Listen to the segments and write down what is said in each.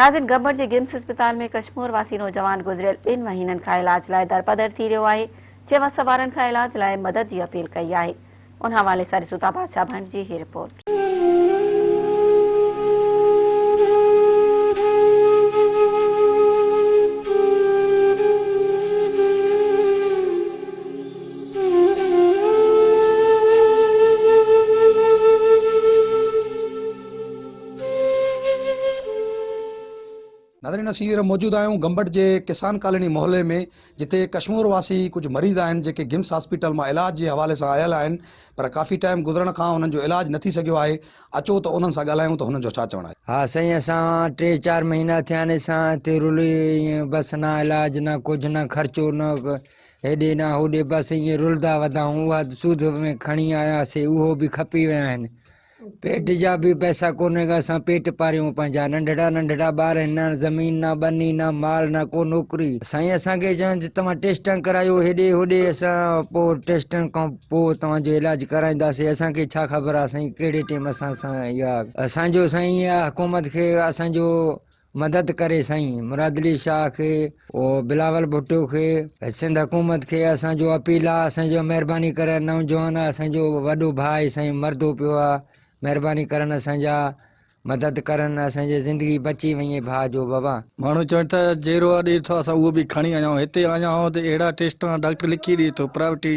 ناظرين گمبٽ جي گمس اسپتال ۾ ڪشمور واسي نوجوان گذريل ٻن مهينن کان علاج لاء درپدر ٿي رهيو آهي جنهن وس وارن کان علاج لاء مدد جي اپيل ڪئي آهي ان حوالي سان ڏسون ٿا بادشاهه ڀنڊ جي هي رپورٽ. ناظرين اسين هينئر موجود آهيون گمبٽ جي ڪسان ڪالوني محلي ۾ جتي ڪشمور واسي ڪجهه مريض آهن جيڪي گمس هاسپيٽل مان علاج جي حوالي سان آيل آهن پر ڪافي ٽائيم گذرڻ کان انهن جو علاج نه ٿي سگهيو آهي اچو ته انهن سان ڳالهايون ته هنن جو ڇا چوڻ آهي. ها سائين اسان ٽي چار مهينا ٿيا آهن اسان هتي رلي ائين بس نه علاج نه ڪجهه نه خرچو نه هيڏي نه هوڏي بس ائين رلدا ودا آهيون اها سوڌ ۾ کڻي آياسي اهو به کپي ويا آهن پيٽ جا به پئسا ڪونهن ڪا اسان پيٽ پاريون پنهنجا ننڍڙا ننڍڙا ٻار آهن نه زمين نه ٻني نه مال نه ڪو نوڪري سائين اسان کي چون ته توهان ٽيسٽان ڪرايو هيڏي هوڏي اسان پو ٽيسٽن کان پو توهان جو علاج ڪرائينداسي اسان کي ڇا خبر آهي سائين ڪهڙي ٽيم اسان سان اها اسان جو سائين اها حڪومت کي اسان جو مدد ڪري سائين مراد علي شاهه کي و بلاول ڀٽو کي سنڌ حڪومت کي اسان جو اپيل آ اسان جو مهرباني ڪري نوجوان آ اسان جو وڏو ڀاء آهي سائين مردو پيو آ مهرباني ڪرن اسان جا مدد ڪرن اسان جي زندگي بچي وڃي ڀاء جو بابا. ماڻهو چون ٿا جيرو آ ڏي ٿو اسان اهو به کڻي آيا آهيون هتي آيا آهيون ته اهڙا ٽيسٽ آ ڊاڪٽر لکي ڏي ٿو پرائيوٽي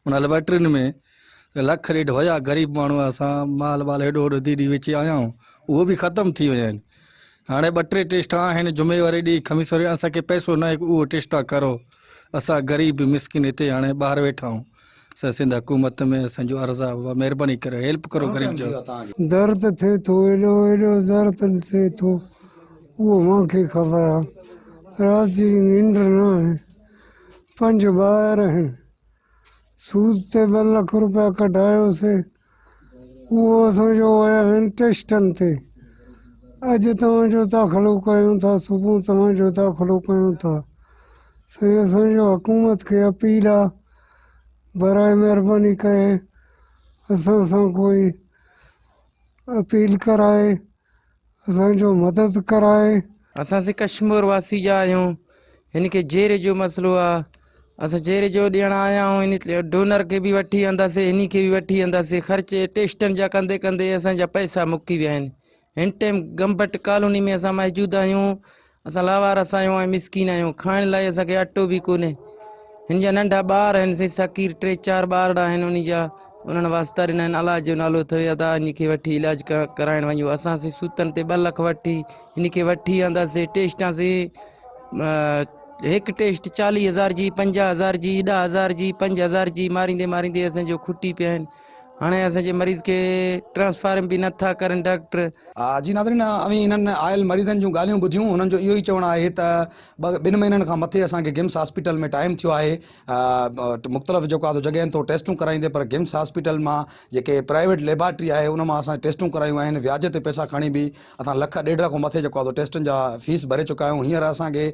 انهن ليبارٽرين ۾ لک ڏيڍ هيا غريب ماڻهو اسان مال وال هيڏو هوڏو ڌي ڏي ويچي آيا آهيون اهو به ختم ٿي ويا آهن هاڻي ٻه ٽي ٽيسٽا آهن جمعي واري ڏينهن خميس واري اسان کي پئسو ناهي ڪو اهو ٽيسٽا ڪرو اسان غريب مسڪين هتي هاڻي ٻاهر ويٺا آهون اسان سنڌ حڪومت ۾ اسان جو عرض آ بابا مهرباني ڪريو هيلپ ڪرو غريب جو. درد ٿئي ٿو ايڏو ايڏو درد ٿئي ٿو اهو مان کي خبر آ رات جي ننڊ نه آهي پنج ٻار آهن سود تي ٻه لک روپيا ڪڍايوسين، اهو اسان جو ويا آهن ٽيسٽن تي، اڄ توهان جو داخلو ڪيون ٿا، صبح توهان جو داخلو ڪيون ٿا، سائين اسان جو حڪومت کي اپيل آ برائي مهرباني ڪري اسان سان ڪوئي اپيل ڪرائي اسان جو مدد ڪرائي. اسان سي ڪشمور واسي جا آهيون هن کي جيري جو مسئلو آ اسان جيري جو ڏيڻ آيا آهيون هن ڊونر کي به وٺي انداسي هني کي به وٺي انداسي خرچ ٽيسٽن جا ڪندي ڪندي اسان جا پئسا مڪي ويا آهن هن ٽيم گمبٽ ڪالوني ۾ اسان موجود آهيون اسان لاوار اسايون ۽ مسڪين آهيون کائڻ لاء اسان کي اٽو به ڪونهي هن جا ننڍا ٻار آهن سائين ساڪير ٽي چار ٻارڙا آهن انهن جا انهن واسطا ڏنا آهن علاج جو نالو اٿوي ادا هن کي وٺي علاج ڪرائڻ وڃو اسان سي سوتن تي ٻه لک وٺي هن کي وٺي آنداسي ٽيسٽان سي هڪ ٽيسٽ چاليهه هزار جي پنجاهه هزار جي ڏهه هزار جي پنج هزار جي ماريندي ماريندي اسان جو کٽي پيا آهن هاڻي اسان جي مريض کي ٽرانسفارم به نه ٿا ڪرن ڊاڪٽر. جي ناظرين اوهين هنن آيل مريضن جون ڳالهيون ٻڌيون هنن جو اهو ئي چوڻ آهي ته ٻن مهينن کان مٿي اسان کي گمس هاسپيٽل ۾ ٽائيم ٿيو آهي مختلف جيڪو آهي سو جڳهين تون ٽيسٽون ڪرائيندي پر گمس هاسپيٽل مان جيڪي پرائيويٽ ليبارٽري آهي ان مان اسان ٽيسٽون ڪرايون آهن وياج تي پئسا کڻي به اسان لک ڏيڍ کان مٿي جيڪو آهي سو ٽيسٽن جا فيس ڀري چڪا آهيون هينئر اسان کي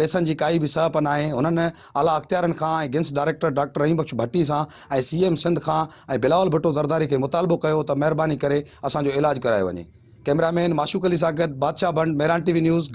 پئسن جي ڪائي به سهپ ناهي هنن اعليٰ اختيارين کان ۽ GIMS director doctor Rahim Bakhsh Bhatti سان ۽ سي ايم سنڌ کان ۽ بلاول ڀٽو زرداري کي مطالبو ڪيو ته مهرباني ڪري اسان جو علاج ڪرايو وڃي ڪئميرا مين معشوق علي سان گڏ بادشاهه بنڊ مهراڻ ٽي وي نيوز